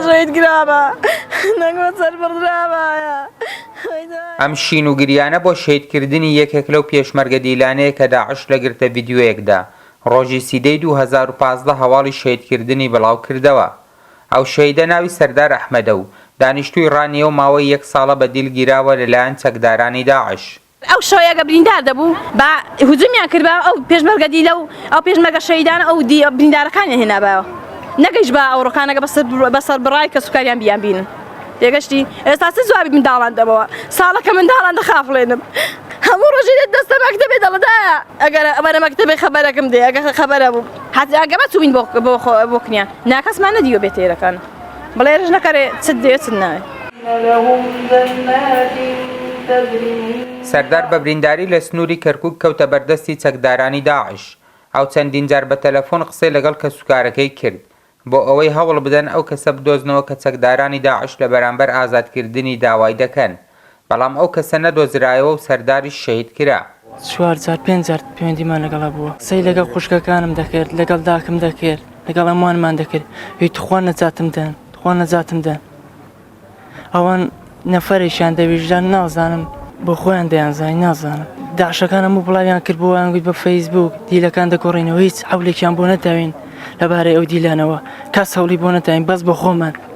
ڕێت گرابە نەگۆ سەر بڕرابایە ئەم شین و گریانە بۆ شەید کردنی یەکێک لەو پێشمەرگە دیلانەیە کە داعش لە گرتە ڤیدیۆیەکدا ڕۆژی سیدەی دوو هەزار و پازدە هەواڵی شەید کردنی بڵاو کردەوە ئەو شەیدە ناوی سەردار ئەحمەدە و دانیشتووی ڕانیە و ماوەی یەک ساڵە بە دیل گیراوە لەلایەن چەکدارانی داعش. ئەو شەوەی ئەگەر بریندار دەبوو با هجومیان کردبایەوە ئەو پێشمەرگە دیلە و ئەو پێشمەرگە شەهیدانە ئەو بریندارەکانیان هێنابایەوە نەگەیشتبا ئەو ڕۆکانەگە بە سەربڕای کەسوکاریان بیانبینن تێگەشتی ئێستا چ جوابی منداڵان دەمەوە ساڵەکە منداڵان دەخافڵێنم هەموو ڕۆژی دێت دەستە مەکتەبێ دەڵدا ئەگەر ئەمەە مەکتەبێ خەبەرەکەم دێ ئەگە خەبەرە بوو حەزیانگەمە چوین بۆ بۆ بۆ کنیان ناکەسمان نەدیوە بێتێرەکان بڵێ رژنە کەرێ چت دێ چت ناوێ. سەردار بە برینداری لە سنووری کەرکووک کەوتە بەر دەستی چەکدارانی داعش. ئەو چەندین جار بە تەلەفۆن قسەی لەگەڵ کەسوکارەکەی کرد، بۆ ئەوەی هەوڵ بدەن ئەو کەسە بدۆزنەوە کە چەکدارانی داعش لە بەرامبەر ئازادکردنی داوای دەکەن. بەڵام ئەو کەسە نەدۆزرایەوە و سەرداریش شەهید کرا. چوار جار پێنج جار پەیوەندیمان لەگەڵ هەبووە قسەی لەگەڵ خوشکەکانم دەکرد لەگەڵ داکم دەکرد لەگەڵ هەمووانمان دەکرد هی تخوا نەجاتم دەن تخوا نەجاتم دەن ئەوان نەفەرێکیان دە ویژدان نازانم بۆ خۆیان دەیانزانی نازانم داعشەکان هەموو بڵاویان کرد بۆیان گوت بە فەیسبووک دیلەکان دەگۆڕینەوە هیچ حەولێکیان بۆ نەداوین لەبارەی ئەو دیلانەوە کەس هەوڵی بۆ نەداین بەس بە خۆمان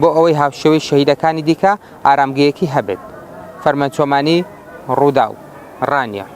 بۆ ئەوەی هاوشێوەی شەهیدەکانی دیکە ئارامگەیەکی هەبێت. فەرمانچۆمانی، رووداو، رانیە.